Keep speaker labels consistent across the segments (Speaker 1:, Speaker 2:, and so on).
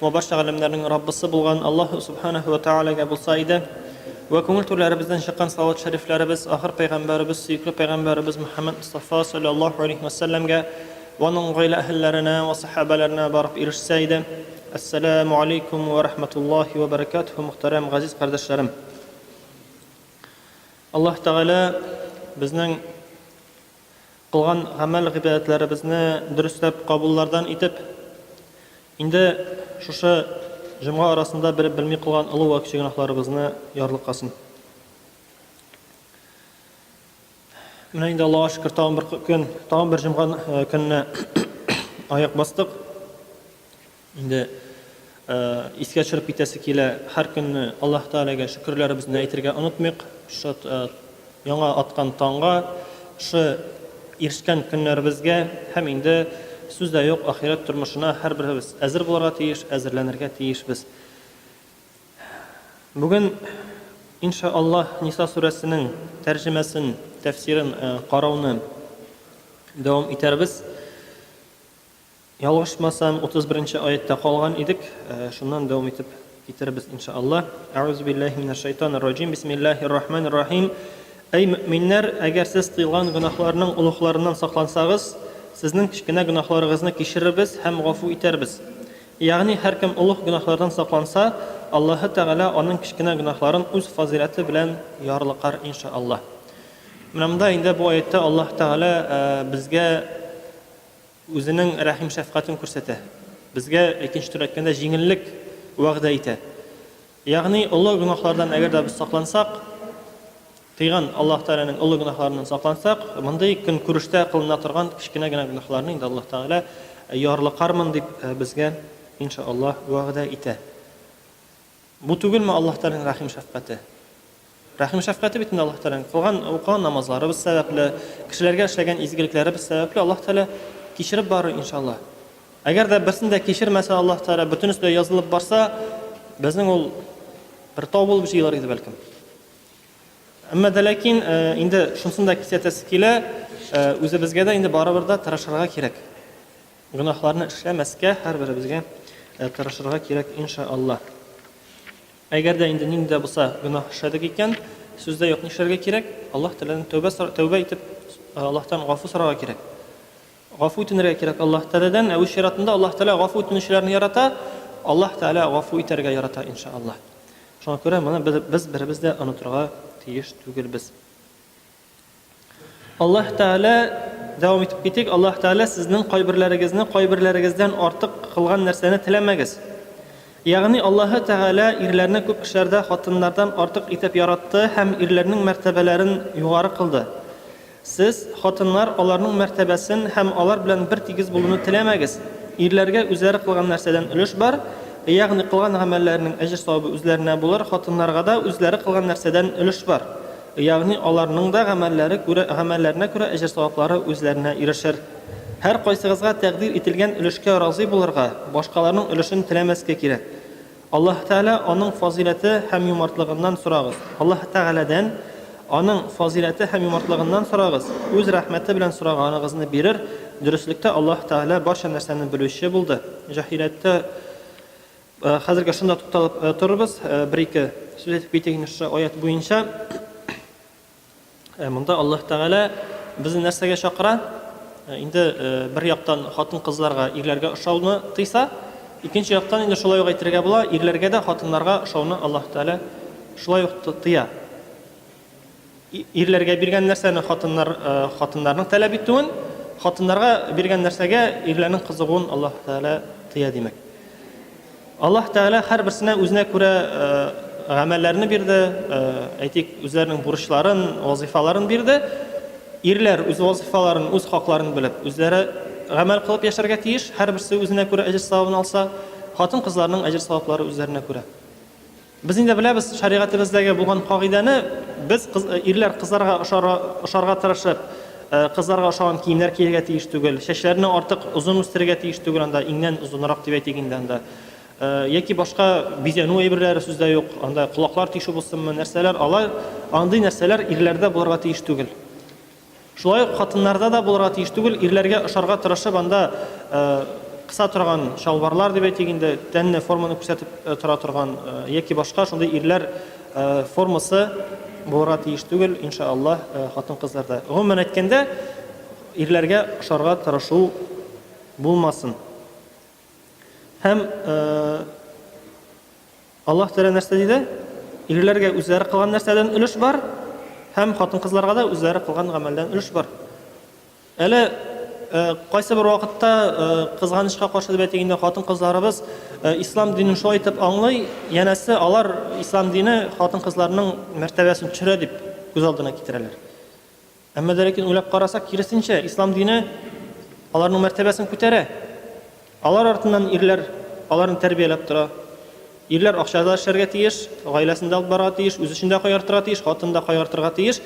Speaker 1: Вә барча галәмнәрнең Раббысы булган Аллаһу Сүбхәнәһү вә Тәгаләгә булса иде, вә күңел түрләребездән чыккан салават шәрифләребез ахыр пәйгамбәребез, сөекле пәйгамбәребез Мөхәммәд Мостафа салләллаһу галәйһи вә сәлләмгә вә аның гаилә әһелләренә вә сәхабәләренә барып ирешсә иде. Әссәләмү галәйкүм вә рәхмәтуллаһи вә бәрәкәтүһү Мөхтәрәм газиз кардәшләрем! Аллаһ Тәгалә безнең. Кылган гамәл-гыйбадәтләребезне дөресләп кабуллардан итеп, инде шушы җомга арасында белеп белми кылган олы вә кече гөнаһларыбызны ярлыкасын. Менә инде Аллага шөкер, тагын бер көн, тагын бер җомга көненә аяк бастык. Инде искә төшереп китәсе килә, һәр көнне Аллаһ Тәгаләгә шөкерләребезне әйтергә онытмыйк. Шул яңа аткан таңга, шул ирешкән көннәребезгә һәм инде сүз дә юк, ахирәт тормышына һәрберебез әзер булырга тиеш, әзерләнергә тиешбез. Бүген инша Аллаһ Ниса сүрәсенең тәрҗемәсен, тәфсирен карауны дәвам итәрбез. Ялгышмасам, утыз беренче аятьтә калган идек, шуннан дәвам итеп китерербез, инша Аллаһ. Әгъузу биллаһи минәш шайтанир раҗим. Бисмиллаһир рахманир рахим. Әй мөэминнәр, әгәр сез тыелган гөнаһларның олугларыннан саклансагыз, сезнең кечкенә гөнаһларыгызны кичерербез һәм гафу итәрбез. Ягъни һәркем олуг гөнаһлардан сакланса, Аллаһы Тәгалә аның кечкенә гөнаһларын үз фазыйләте белән ярлыкар, инша Аллаһ. Менә монда инде бу аятьтә Аллаһ Тәгалә безгә Үзенең рәхим-шәфкатен күрсәтә. Безгә икенче төр әйткәндә җиңеллек вәгъдә итә. Ягъни олы гөнаһлардан әгәр дә без саклансак, тыйган Аллаһ Тәгаләнең олы гөнаһларыннан саклансак, мондый көнкүрештә кылына торган кечкенә генә гөнаһларны инде Аллаһ Тәгалә ярлыкармын дип безгә, иншаАллаһ, вәгъдә итә. Бу түгелме Аллаһ Тәгаләнең рәхим-шәфкате? Рәхим-шәфкате бит инде Аллаһ Тәгаләнең. Кылган, укыган намазларыбыз сәбәпле, кешеләргә эшләгән изгелекләребез сәбәпле Аллаһ Тәгалә кичереп барыр, иншалла. Әгәр дә берсен дә кичермәсә Аллаһ Тәгалә, бөтенесе дә язылып барса, безнең ул бер тау булып җыелыр иде бәлкем. Әмма дә ләкин э, инде шунысын да кисәтәсе килә, э, үзебезгә дә инде барыбер да тырышырга кирәк. Гөнаһларны эшләмәскә һәрберебезгә тырышырга кирәк, инша Аллаһ. Әгәр дә инде нинди дә булса гөнаһ эшләдек икән, сүздә юк нишләргә кирәк? Аллаһ Тәгаләдән тәүбә тәүбә итеп, Аллаһтан гафу сорарга кирәк. Гафу үтенергә кирәк Аллаһ Тәгаләдән, ә үз чиратында Аллаһ Тәгалә гафу үтенүчеләрне ярата, Аллаһ Тәгалә гафу итәргә ярата иншааллаһ. Шуңа күрә моны без беребез дә онытырга тиеш түгелбез. Аллаһ Тәгалә, дәвам итеп китик, Аллаһ Тәгалә сезнең кайберләрегезне кайберләрегездән артык кылган нәрсәне теләмәгез. Ягъни Аллаһ Тәгалә ирләрне күп эшләрдә хатыннардан артык итеп яратты һәм ирләрнең мәртәбәләрен югары кылды. Сез, хатыннар, аларның мәртәбәсен һәм алар белән бер тигез булуны теләмәгез. Ирләргә үзләре кылган нәрсәдән өлеш бар, ягъни кылган гамәлләренең әҗер-савабы үзләренә булыр, хатыннарга да үзләре кылган нәрсәдән өлеш бар. Ягъни аларның да гамәлләре күрә, гамәлләренә күрә әҗер-саваплары үзләренә ирешер. Һәркайсыгызга тәкъдир ителгән өлешкә разый булырга, башкаларның өлешен теләмәскә кирәк. Аллаһы Тәгалә, Аның фазыйләте һәм юмартлыгыннан сорагыз. Аллаһы Тәгаләдән, Аның фазыйләте һәм юмартлыгыннан сорагыз, Үз рәхмәте белән сораганыгызны бирер, дөреслектә Аллаһы Тәгалә барча нәрсәне белүче булды, җаһилияттә Э, хәзергә шунда тукталып э, торырбыз. Э, бер-ике сүз әйтеп китик инде шушы аят буенча. Монда Аллаһ Тәгалә безне нәрсәгә чакыра? Инде бер яктан хатын-кызларга, ирләргә ошауны тыйса, икенче яктан инде шулай ук әйтергә була, ирләргә дә хатыннарга ошауны Аллаһ Тәгалә шулай ук тыя. Ирләргә биргән нәрсәне хатыннар, хатыннарның таләп итүен, хатыннарга биргән нәрсәгә ирләрнең кызыгуын Аллаһ Тәгалә тыя димәк. Аллаһ Тәгалә һәрберсенә үзенә күрә гамәлләрне бирде, әйтик, үзләренең бурычларын, вазифаларын бирде. Ирләр үз вазифаларын, үз хакларын белеп, үзләре гамәл кылып яшәргә тиеш, һәрберсе үзенә күрә әҗер-савабын алса, хатын-кызларның әҗер-саваплары үзләренә күрә. Без инде беләбез, шәригатебездәге булган кагыйдәне, без, ирләр кызларга ошарга тырышып, кызларга ошаган киемнәр кияргә тиеш түгел, чәчләрне артык озын үстерергә тиеш түгел, анда иңнән озынрак дип әйтик инде анда. Яки башка бизәнү әйберләре сүз дә юк, анда колаклар тишү булсынмы, нәрсәләр, алар, андый нәрсәләр ирләрдә булырга тиеш түгел. Шулай ук хатыннарда да булырга тиеш түгел, ирләргә ошарга тырышып анда кыса торган чалбарлар дип әйтик инде, тәнне форманы күрсәтеп тора торган яки башка шундый ирләр формасы булырга тиеш түгел, инша Аллаһ, хатын-кызларда. Гомумән әйткәндә, ирләргә ошарга тырышу булмасын. Һәм Аллаһ Тәгалә нәрсә диде? Ирләргә үзләре кылган нәрсәдән өлеш бар һәм хатын-кызларга да үзләре кылган гамәлдән өлеш бар. Әле кайсы бер вакытта кызганычка каршы дип әйтик инде хатын-кызларыбыз ислам динен шулай итеп аңлый, янәсе алар ислам дине хатын-кызларның мәртәбәсен төшерә дип күз алдына китерәләр. Әмма дә ләкин уйлап карасак, киресенчә, ислам дине аларның мәртәбәсен күтәрә. Алар артыннан ирләр аларны тәрбияләп тора. Ирләр акчада эшләргә тиеш, гаиләсен дә алып барырга тиеш, үз эшен дә кайгыртырга тиеш, хатын да кайгыртырга тиеш.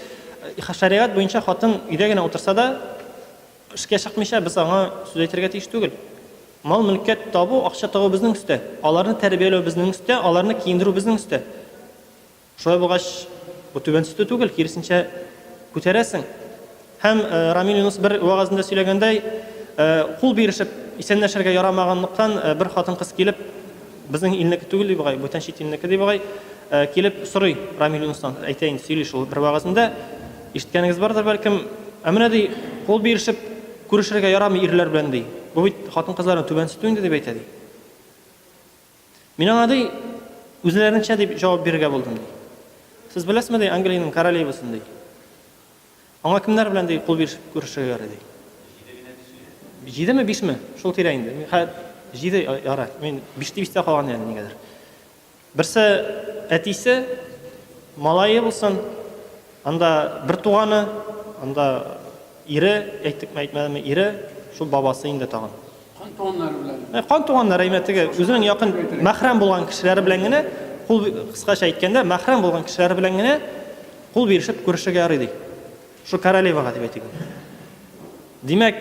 Speaker 1: Э, шәригать буенча хатын өйдә генә утырса да, эшкә чыкмыйча без аңа сүз әйтергә тиеш түгел. Мал мөлккә табу, акча табу безнең өстә. Аларны тәрбияләү безнең өстә, аларны киендерү безнең өстә. Шулай булгач, бу түбән төстә түгел, киресенчә, күтәрәсең. Һәм Рамил Юнус бер вәгазендә сөйләгәндәй, кул бирешеп исәнләшергә ярамаганлыктан, бер хатын-кыз килеп, безнең илнеке түгел, ди бугай, бүтән чит илнеке, ди бугай, килеп сорый Рамил Юнустан, әйтә инде, сөйли шул бер вәгазендә, ишеткәнегез бардыр, бәлкем, Ә менә, ди, кул бирешеп күрешергә ярамый ирләр белән, ди. Бу бит хатын-кызларның түбән төстү инде, дип әйтә, ди. Мин аңа ди, үзләренчә дип җавап бирергә булдым ди. Сез беләсезме ди, Англиянең королевасын ди. Аңа кемнәр белән ди кул биришеп күрешергә ярый ди. Җидеме, бишме? Шул тирә инде. Җиде ярай. Мин биште бистә калган яны нигәдер. Берсе әтисе, малае булсын, анда бер туганы, анда ире, әйттекме, әйтмәдемме, ире, шул бабасы инде тагын. Кан
Speaker 2: туганнары белән. Э, кан туганнары, әйме, теге
Speaker 1: үзенең якын мәхрәм булган кешеләре белән генә, кул кыскача әйткәндә, мәхрәм булган кешеләре белән генә кул бирешеп күрешергә ярый ди. Шул королевага дип әйтик. Димәк,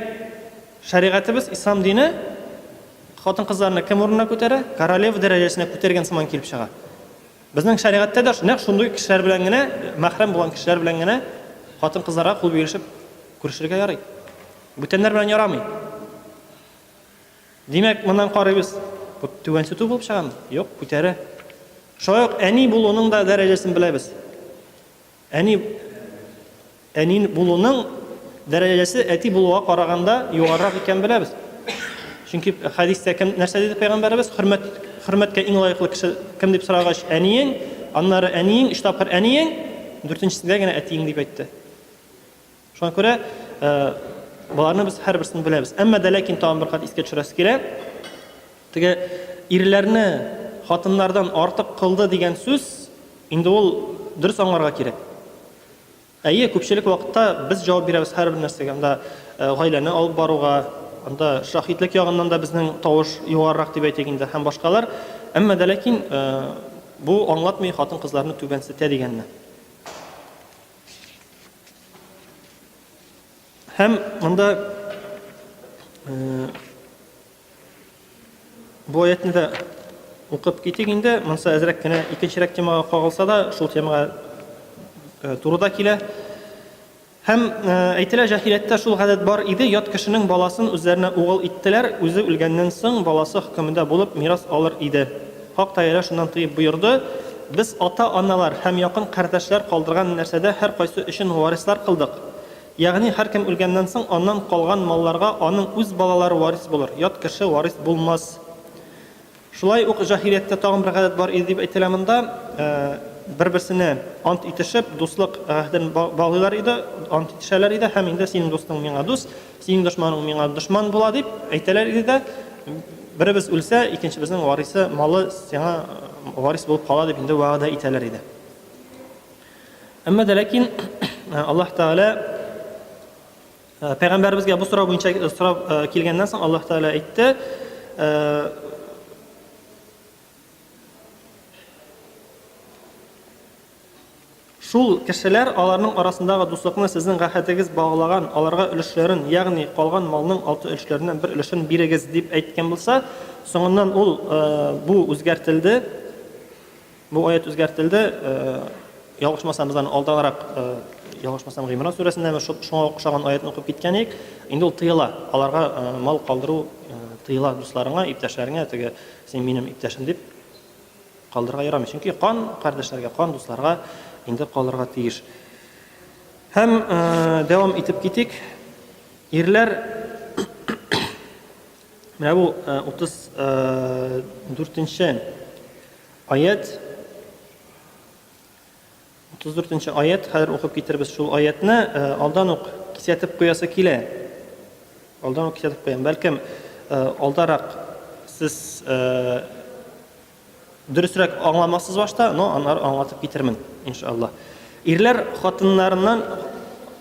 Speaker 1: шәригатебез ислам дине хатын-кызларны кем урынына күтәрә? Королева дәрәҗәсенә күтәргән сыман килеп чыга. Безнең шәригатьтә дә нәкъ шундый кешеләр белән генә, мәхрәм булган кешеләр белән генә хатын-кызларга кул бирешеп күрешергә ярый. Бүтәннәр белән ярамый. Димәк, моннан карыйбыз, бу түбәнче ту булып чыгамы? Юк, күтәрә. Шулай ук әни булуның да дәрәҗәсен беләбез. Әни әни булуның дәрәҗәсе әти булуга караганда югарырак икән беләбез. Чөнки хәдистә кем нәрсә диде пәйгамбәребез? Хөрмәт хөрмәткә иң лаеклы кеше кем дип сорагач, әниең, аннары әниең, өч тапкыр әниең, дүртенчесендә генә әтиең дип әйтте. Шуңа күрә боларны без һәрберсен беләбез. Әмма дә ләкин тагын бер кат искә төшерәсе килә. Теге ирләрне хатыннардан артык кылды дигән сүз инде ул дөрес аңларга кирәк. Әйе, күпчелек вакытта без җавап бирәбез һәрбер нәрсәгә. Анда гаиләне алып баруга, анда шаһитлек ягыннан да безнең тавыш югарырак дип әйтик инде һәм башкалар. Әмма дә ләкин бу аңлатмый хатын-кызларны түбәнсетә дигәнне. Һәм монда бу аятны да укып китик инде. Монсы әзрәк кенә икенчерәк темага кагылса да, шул темага э, турыда килә. Һәм э, әйтелә җаһилияттә шул гадәт бар иде, ят кешенең баласын үзләренә угыл иттеләр, үзе үлгәннән соң баласы хөкемендә булып мирас алыр иде. Хак Тәгалә шуннан тыеп боерды, Без ата-аналар һәм якын кардәшләр калдырган нәрсәдә һәркайсы өчен варислар кылдык. Ягъни һәркем үлгәннән соң, аннан калган малларга аның үз балалары варис булыр, ят кеше варис булмас. Шулай ук җаһилияттә тагын бер гадәт бар иде дип әйтелә монда. Бер-берсенә ант итешеп, дуслык гәһден баглыйлар иде, ант итешәләр иде һәм инде синең дустың миңа дус, Синең дошманың миңа дошман була, дип әйтәләр иде дә, беребез үлсә, икенчебезнең варисы, малы сиңа варис булып кала дип инде вәгъдә итәләр иде. Әмма дә ләкин Аллаһ Тәгалә пәйгамбәребезгә бу сорау буенча сорап килгәннән соң Аллаһ Тәгалә әйтте, Шул кешеләр, аларның арасындагы дуслыкны сезнең гахәтегез баглаган, аларга өлешләрен, ягъни калган малның алты өлешләреннән бер өлешен бирегез, дип әйткән булса, соңыннан ул, бу үзгәртелде, бу аять үзгәртелде, ялгышмасам, без аны алдаграк, ялгышмасам, Гыймран сүрәсендәме, шуңа охшаган аятны укып киткән идек, инде ул тыела, аларга мал калдыру тыела дусларыңа, иптәшләреңә, теге Син минем иптәшем дип калдырга ярамый. Чөнки кан кардәшләргә, кан дусларга инде калырга тиеш. Һәм э, дәвам итеп китик. Ирләр менә бу 34 э, э, аят 34-нче аять, хәзер укып китербез шул аятны, э, алдан ук кисәтеп куясы килә. Алдан ук кисәтеп куям. Бәлкем, э, алдарак сез э, дөресрәк аңламассыз башта, но аннары аңлатып китермен, иншалла. Ирләр хатыннарыннан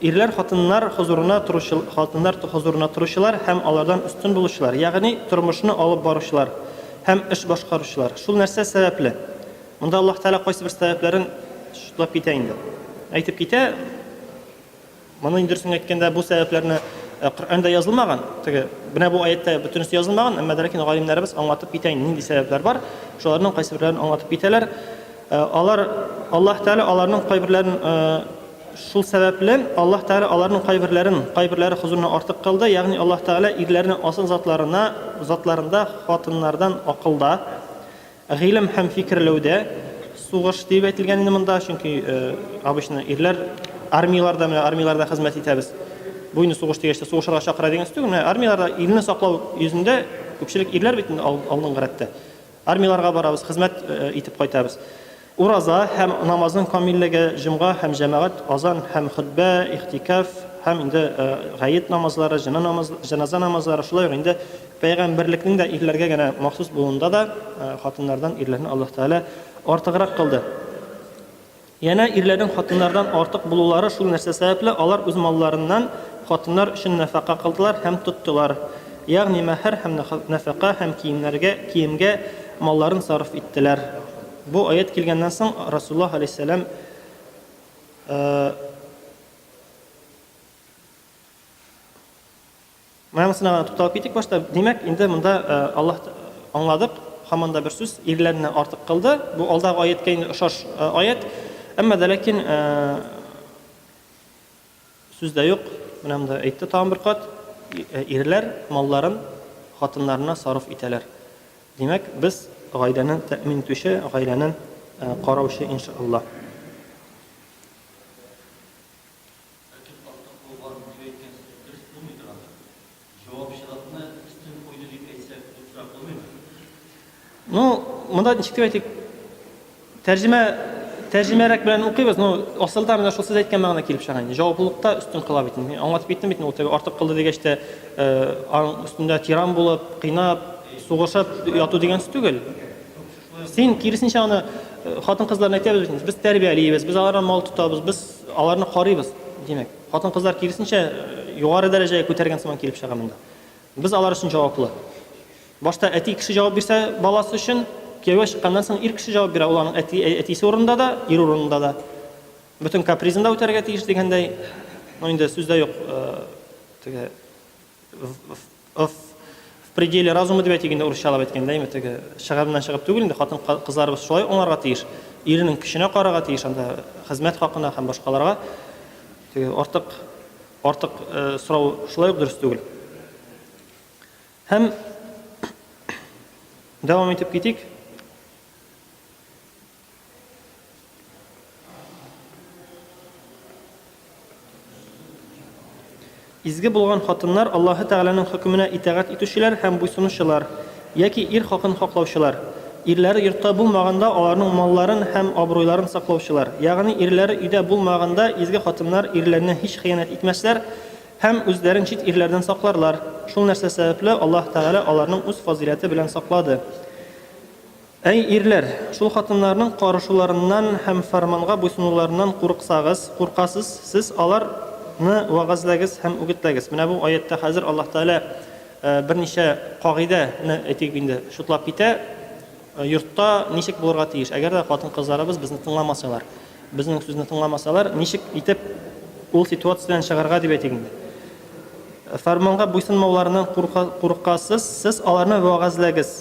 Speaker 1: ирләр хатыннар хозурына торучы хатыннар хозурына торучылар һәм алардан өстен булучылар, ягъни тормышны алып баручылар һәм эш башкаручылар. Шул нәрсә сәбәпле? Монда Аллаһ Тәгалә кайсы бер сәбәпләрен шутлап китә инде. Әйтеп китә. Моны инде дөресен әйткәндә бу сәбәпләрне э, Коръәндә язылмаган. Теге менә бу аятта бөтенесе язылмаган, әмма дә ләкин галимнәребез аңлатып китә инде нинди сәбәпләр бар. Шуларның кайсы берләрен аңлатып китәләр. Э, алар Аллаһ Тәгалә аларның кайберләрен э, шул сәбәпле Аллаһ Тәгалә аларның кайберләрен кайберләре хозурына артык кылды, ягъни Аллаһ Тәгалә ирләрне асыл затларына затларында хатыннардан акылда Гыйлем һәм фикерләүдә сугыш диеп әйтелгән инде монда, чөнки обычно ирләр армияләрдә, менә армияләрдә хезмәт итәбез. Бу инде сугыш дигәч тә сугышырга чакыра дигән сүз түгел. Менә армияләрдә илне саклау йөзендә күпчелек ирләр бит инде алдынгы рәттә. Армияләргә барабыз, хезмәт итеп кайтабыз. Ураза һәм намазның камиллеге, җомга һәм җәмәгать, азан һәм хөтбә, ихтикаф һәм инде гает намазлары, җеназа намазлары, шулай ук инде Пәйгамбәрлекнең дә ирләргә генә махсус булуында да хатыннардан ирләрне Аллаһ Тәгалә артыграк кылды. Янә ирләрнең хатыннардан артык булулары шул нәрсә сәбәпле, алар үз малларыннан хатыннар өчен нәфәкә кылдылар һәм тоттылар. Ягъни мәһәр һәм нәфәкә һәм киемнәргә, киемгә малларын сарыф иттеләр. Бу аять килгәннән соң Расуллаһ алейһиссәлам Менә монысына гына тукталып китик башта. Димәк, инде монда Аллаһ аңладык, һаман да бер сүз, ирләрне артык кылды. Бу алдагы аяткә инде ошаш аят. Әмма дә ләкин сүз дә юк. Менә монда әйтте тагын бер кат. Ирләр малларын хатыннарына сарыф итәләр. Димәк, без гаиләне тәэмин итүче, гаиләне караучы иншаллаһ. Этеп артык булган, дип әйткәнсез, дөрес булмыйдыр ахры. Җавапчылыкны өстен куйды дип әйтсәк, дөресрәк булмыймы? Ну, монда ничек дип әйтик? Тәрҗемә тәрҗемәрәк белән укыйбыз, но асылда менә шул сез әйткән мәгънә килеп чыга инде. Җаваплылыкта үстен кыла бит инде. Аңлатып киттем бит ул теге артык кылды дигәч тә, э, аның өстендә тиран булып, кыйнап, сугышып яту дигән сүз түгел. Син, киресенчә, аны э, хатын-кызларына әйтәбез бит инде, без тәрбиялибез, без алардан мал тотабыз, без аларны карыйбыз. Димәк, хатын-кызлар киресенчә э, югары дәрәҗәгә күтәргән сыман килеп чыга монда. Без алар өчен җаваплы. Башта әти кеше җавап бирсә баласы өчен, кияүгә чыкканнан соң ир кеше җавап бирә, ул аның әти, ә- әтисе урынында да, ир урынында да. Бөтен капризын да үтәргә тиеш дигәндәй, ну инде сүздә юк, э, теге в- в- Ыф. В пределе разума дип әйтик инде, урысчалап әйткәндә, әйме, теге чыгырыннан чыгып түгел инде, хатын кызларыбыз шулай аңларга тиеш, иренең көченә карарга тиеш анда хезмәт хакына һәм башкаларга. Теге артык артык сорау шулай ук дөрес түгел. Һәм дәвам итеп китик. Изге булган хатыннар Аллаһы Тәгаләнең хөкеменә итагать итүчеләр һәм буйсынучылар, яки ир хакын хаклаучылар. Ирләре йортта булмаганда аларның малларын һәм абруйларын саклаучылар. Ягъни ирләре өйдә булмаганда изге хатыннар ирләренә һич хыянәт итмәсләр һәм үзләрен чит ирләрдән сакларлар. Шул нәрсә сәбәпле Аллаһы Тәгалә аларның үз фазыйләте белән саклады. Әй, ирләр, шул хатыннарның карышуларыннан һәм фәрманга буйсынуларыннан курыксагыз, куркасыз, сез алар ны вәгазьләгез һәм үгетләгез. Менә бу аятьтә хәзер Аллаһ Тәгалә берничә кагыйдә не, әйтик инде, чутлап китә, йортта ничек булырга тиеш, әгәр дә хатын-кызларыбыз безне тыңламасалар, безнең сүзне тыңламасалар, ничек итеп ул ситуациядән чыгарга дип әйтик инде. Фәрманга буйсынмауларыннан курыкасыз, сез аларны вәгазьләгез.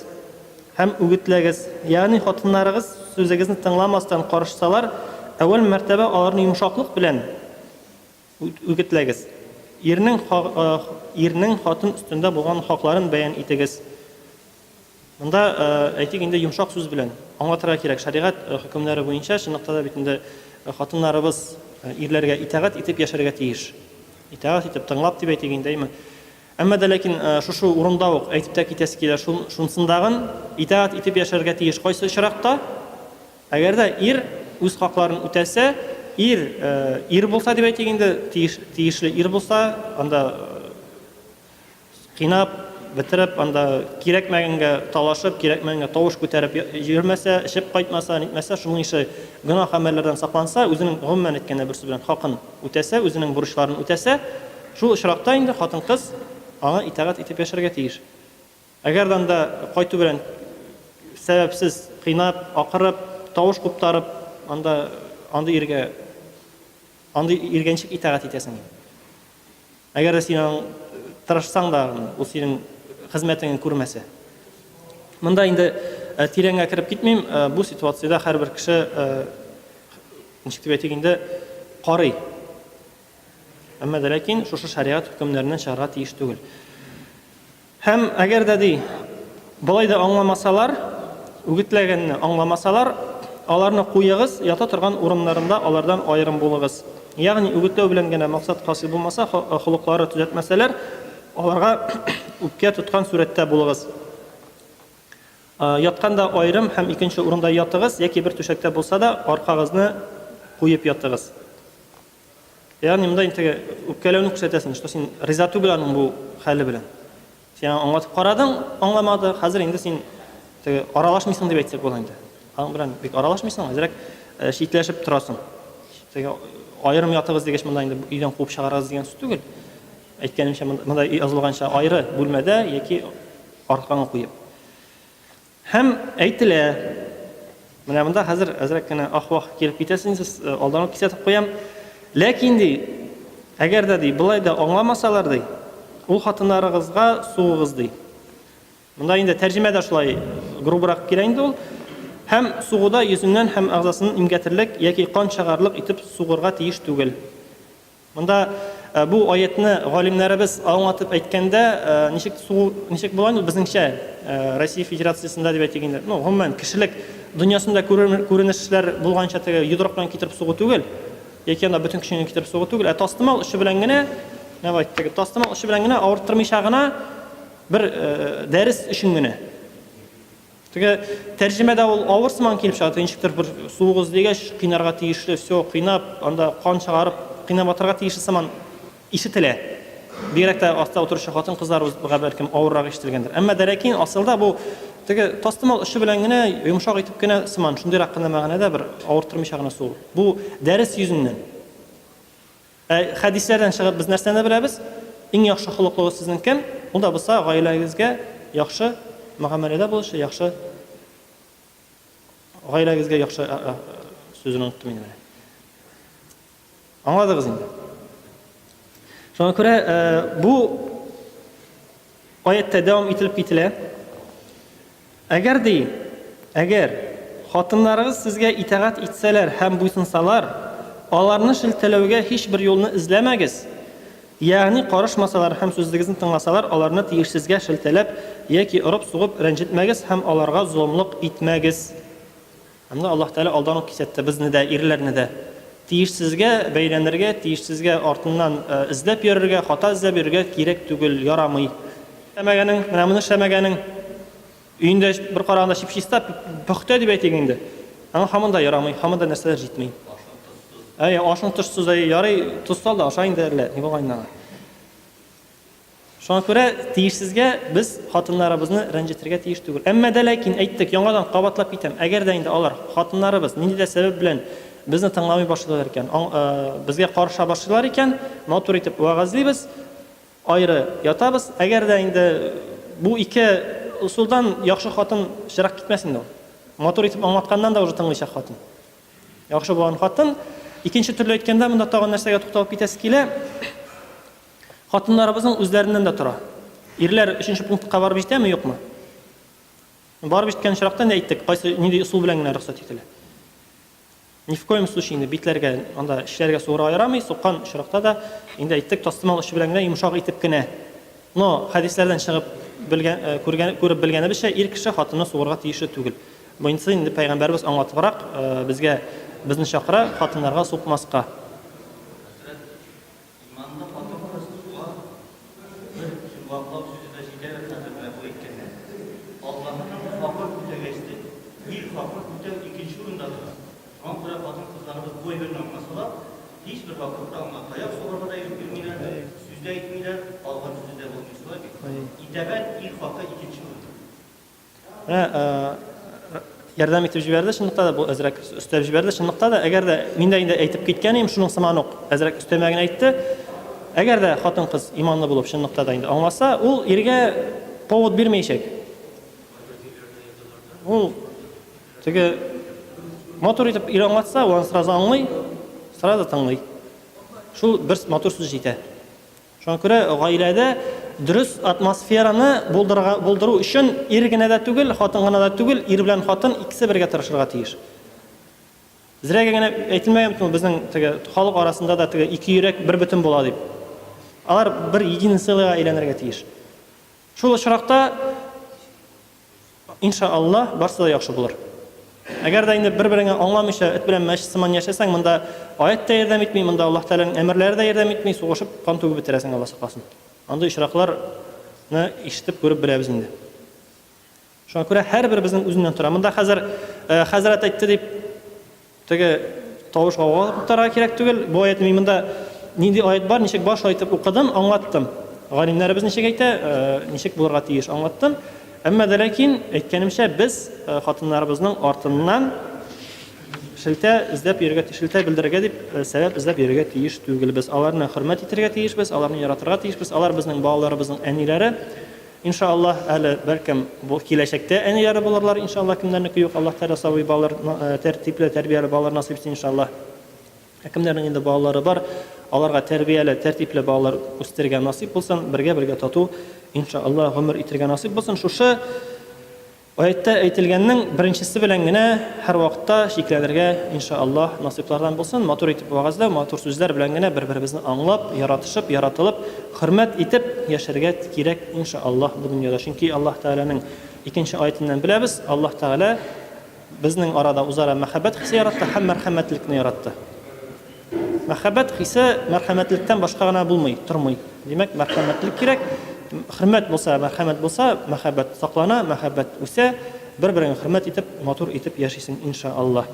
Speaker 1: Һәм үгетләгез. Ягъни хатыннарыгыз сүзегезне тыңламастан карышсалар, әүвәл мәртәбә аларны йомшаклык белән үгетләгез. Ирнең ирнең хатын өстендә булган хакларын бәян итегез. Монда, әйтик инде, йомшак сүз белән аңлатырга кирәк. Шәригать хөкемнәре буенча, чынлыкта да бит инде хатыннарыбыз ирләргә итагать итеп яшәргә тиеш. Итагать итеп, тыңлап дип әйтик инде, әйме? Әмма дә ләкин шушы урында ук әйтеп тә китәсе килә, шунсындагын, итаәт итеп яшәргә тиеш кайсы очракта? Әгәр дә ир үз хакларын үтәсә, ир ир булса дип әйтик инде, тиеш, тиешле ир булса, анда кыйнап, бетереп, анда кирәкмәгәнгә талашып, кирәкмәгәнгә тавыш күтәреп йөрмәсә, эчеп кайтмаса, нитмәсә, шуның ише гөнаһ гамәлләрдән сакланса, үзенең гомумән әйткәндә бер сүз белән хакын үтәсә, үзенең бурычларын үтәсә, шул очракта инде хатын-кыз аңа итагать итеп яшәргә тиеш. Әгәр дә анда кайту белән сәбәпсез кыйнап, акырып, тавыш куптарып, анда андый иргә андый иргәнчек итагать итәсең. Әгәр дә син аның тырышсаң да, ул синең хезмәтеңне күрмәсә. Монда инде тирәнгә кереп китмим, бу ситуациядә һәрбер кеше ничек дип әйтик инде карый. Әмма дә ләкин шушы шәригать хөкемнәреннән чыгарга тиеш түгел. Һәм әгәр дә, ди, болай да аңламасалар, үгетләгәнне аңламасалар, аларны куегыз, ята торган урыннарында алардан аерым булыгыз. Ягъни, үгетләү белән генә максат хасил булмаса, холыклары төзәтмәсәләр, аларга үпкә тоткан сурәттә булыгыз. Ятканда аерым һәм икенче урында ятыгыз, яки бер түшәктә булса да, аркагызны куеп ятыгыз. Ягъни монда инде теге үпкәләүне күрсәтәсең, что син риза түгел аның бу хәле белән. Син аны аңлатып карадың, аңламады, хәзер инде син теге аралашмыйсың дип әйтсәк була инде. Аның белән бик аралашмыйсың, әзрәк э, читләшеп торасың. Теге аерым ятыгыз дигәч монда инде өйдән куып чыгарыгыз дигән сүз түгел. Әйткәнемчә монда язылганча аеры бүлмәдә яки арканы куеп. Һәм әйтелә, менә монда хәзер әзрәк кенә ах-вах килеп китәсен сез, э, алдан ук кисәтеп куям. Ләкин ди, әгәр дә ди, былай да аңламасалар ди, ул хатыннарыгызга сугыгыз ди. Монда инде тәрҗемә дә шулай грубырак килә инде ул. Һәм сугуда йөзеннән һәм агзасын имгәтерлек яки кан чыгарлык итеп сугырга тиеш түгел. Монда бу аятьне галимнәребез аңлатып әйткәндә, ничек су, ничек була инде безнеңчә Россия Федерациясендә дип әйтик инде. Ну, гомумән, кешелек дөньясында күренешләр булганча теге йодрык белән китереп сугу түгел, яки анда бөтен көчеңне китереп сугу түгел, ә тастымал очы белән генә, менә бу әйттек, тастымал очы белән генә авырттырмыйча гына бер дәрес өчен генә. Теге тәрҗемәдә ул авыр сыман килеп чыга, ничектер бер суыгыз дигәч, кыйнарга тиешле, все, кыйнап, анда кан чыгарып, кыйнап атырга тиешле сыман ишетелә. Бигрәк тә астта утыручы хатын-кызларга бәлкем авыррак ишетелгәндер. Әмма дәрәкин асылда бу теге тастымал очы белән генә, йомшак итеп кенә сыман, шундыйрак кына мәгънәдә бер авырттырмыйча гына сугу. Бу дәрес йөзеннән. Ә хәдисләрдән чыгып без нәрсәне беләбез? Иң яхшы холыклыгыз сезнең кем? Ул да булса гаиләгезгә яхшы мөгамәләдә булучы, яхшы гаиләгезгә яхшы сүзен оныттым инде менә. Аңладыгыз инде. Шуңа күрә бу Аятьтә дәвам ителеп кителә, Әгәр ди, әгәр, хатыннарыгыз сезгә итагать итсәләр һәм буйсынсалар, аларны шелтәләүгә һичбер юлны эзләмәгез, ягъни карышмасалар һәм сүзегезне тыңласалар, аларны тиешсезгә шелтәләп яки орып-сугып рәнҗетмәгез һәм аларга золымлык итмәгез. Ә менә Аллаһ Тәгалә алдан ук кисәтте, безне дә, ирләрне дә. Тиешсезгә бәйләнергә, тиешсезгә артыннан эзләп йөрергә, хата эзләп йөрергә кирәк түгел, ярамый. Эшләмәгәнең, менә моны эшләмәгәнең, өендә бер караганда чип-чиста, пөхтә дип әйтик инде, әмма һаман да ярамый, һаман да нәрсәләр җитми. Әйе, ашың тозсыз, әйе, ярый, тоз сал да аша инде әллә, ни булган инде аңа. Шуңа күрә тиешсезгә без хатыннарыбызны рәнҗетергә тиеш түгел. Әмма дә ләкин, әйттек, яңадан кабатлап китәм, әгәр дә инде алар, хатыннарыбыз, нинди дә сәбәп белән безне тыңламый башлыйлар икән, аң, э, безгә карыша башлыйлар икән, матур итеп вәгазьлибез, аеры ятабыз. Әгәр дә инде бу ике ысулдан яхшы хатын чырак китмәс инде ул. Матур итеп аңлатканнан да уже тыңлыйчак хатын. Яхшы булган хатын. Икенче төрле әйткәндә, монда тагын нәрсәгә тукталып китәсе килә. Хатыннарыбызның үзләреннән дә тора. Ирләр өченче пунктка барып җитәме, юкмы? Барып җиткән очракта инде әйттек, кайсы нинди ысул белән генә рөхсәт ителә. Ни в коем случае инде битләргә, анда эчләргә суырырга ярамый, суккан очракта да инде әйттек, тастымал очы белән генә йомшак итеп кенә. Но хәдисләрдән чыгып белгән, күргән, күреп белгәнебезчә, ир кеше хатынны суырырга тиешле түгел. Монысы инде пәйгамбәребез аңлатыбрак безгә безне чакыра, хатыннарга сукмаска. Иманлы хатын-кыз тууга бер йомгаклау сүзе дә җитәр хәзер менә бу әйткәннәр.
Speaker 3: Аллаһының хакын үтәгәч тә, ир хакын үтәү икенче урында тора. Шуңа күрә хатын-кызларыбыз бу әйберне аңласалар, һичбер вакытта аңа таяк сугарга да юл бирмиләр, сүз дә әйтмиләр, калган сүзе дә булмый, шулай бит? Итәгать, ир хакы икенче урында. Ә, ә, ярдәм
Speaker 1: итеп җибәрде, чынлыкта да бу әзрәк өстәп җибәрде. Чынлыкта да, әгәр дә мин дә инде әйтеп киткән идем, шуның сыман ук әзрәк өстәмә генә әйтте. Әгәр дә хатын-кыз иманлы булып чынлыкта да инде аңласа, ул иргә повод бирмәячәк. Ул теге матур итеп ир аңлатса, ул сразу аңлый, сразу тыңлый. Шул бер матур сүз җитә. Шуңа күрә гаиләдә дөрес атмосфераны булдырырга, булдыру өчен ир генә дә түгел, хатын гына да түгел, ир белән хатын икесе бергә тырышырга тиеш. Зрәгә генә әйтелмәгән бит ул безнең теге халык арасында да теге ике йөрәк бер бөтен була дип. Алар бер единый целыйга әйләнергә тиеш. Шул очракта Ин ша Аллаһ, барсы да яхшы булыр. Әгәр дә инде бер-береңә аңламыйча, эт белән мәч сыман яшәсәң, монда аять та ярдәм итми, монда Аллаһ Тәгаләнең әмерләре дә ярдәм итми, сугышып, кан түгеп бетерәсең, Аллаһ сакласын. Андый очракларны ишетеп, күреп беләбез инде. Шуңа күрә һәрберебезнең үзеннән тора. Монда хәзер э, хәзрәт әйтте дип Теге тавыш гауга туктарга кирәк түгел. Бу аятны мин монда нинди аят бар, ничек бар, шулай итеп укыдым, аңлаттым. Галимнәребез ничек әйтә, ничек булырга тиеш, аңлаттым. Әмма дә ләкин, әйткәнемчә, без хатыннарыбызның артыннан шелтә эзләп йөрергә, шелтә белдерергә дип сәбәп эзләп йөрергә тиеш түгелбез. Аларны хөрмәт итәргә тиешбез, аларны яратырга тиешбез. Алар безнең балаларыбызның әниләре. Иншааллаһ, әле, бәлкем, бу киләчәктә әниләре булырлар, иншааллаһ, кемнәрнеке юк, Аллаһ Тәгалә сабый балалар, тәртипле, тәрбияле балалар насыйп итсен, иншааллаһ. Ә кемнәрнең инде балалары бар, аларга тәрбияле, тәртипле балалар үстерергә насыйп булсын, бергә-бергә тату, иншааллаһ, гомер итергә насыйп булсын. Шушы. Аятьтә әйтелгәннең беренчесе белән генә һәрвакытта чикләнергә, инша Аллаһ, насыйплардан булсын, матур итеп вәгазьләү, матур сүзләр белән генә бер-беребезне аңлап, яратышып, яратылып, хөрмәт итеп яшәргә кирәк, инша Аллаһ, бу дөньяда. Чөнки Аллаһ Тәгаләнең икенче аятеннән беләбез, Аллаһ Тәгалә безнең арада үзара мәхәббәт хисе яратты һәм мәрхәмәтлекне яратты. Мәхәббәт хисе мәрхәмәтлектән башка гына булмый, тормый. Димәк, мәрхәмәтлек кирәк. Хөрмәт булса, мәрхәмәт булса, мәхәббәт саклана, мәхәббәт үсә. Бер-береңә хөрмәт итеп, матур итеп яшисең, иншааллаһ.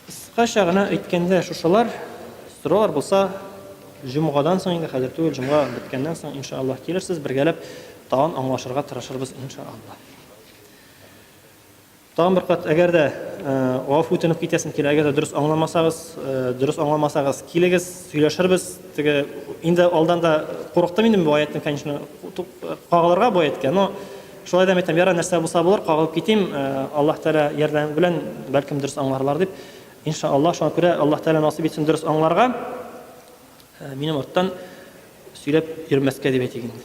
Speaker 1: Кыскача гына әйткәндә шушылар. Сораулар булса, җомгадан соң инде, хәзер түгел, җомга беткәннән соң, иншааллаһ, килерсез, бергәләп тагын аңлашырга тырышырбыз, иншааллаһ. Тагын бер кат, әгәр дә гафу үтенеп китәсем килә, әгәр дә дөрес аңламасагыз, дөрес аңламасагыз, килегез, сөйләшербез. Теге инде алдан да курыктым инде бу аятны, конечно, кагылырга бу аятка, но шулай да әйтәм, яра нәрсә булса булыр, кагылып китим, Аллаһ Тәгалә ярдәме белән бәлкем дөрес аңларлар дип. Иншаллаһ, шуңа күрә Аллаһ Тәгалә насыйп итсен дөрес аңларга. Минем арттан сөйләп йөрмәскә дип әйтик инде.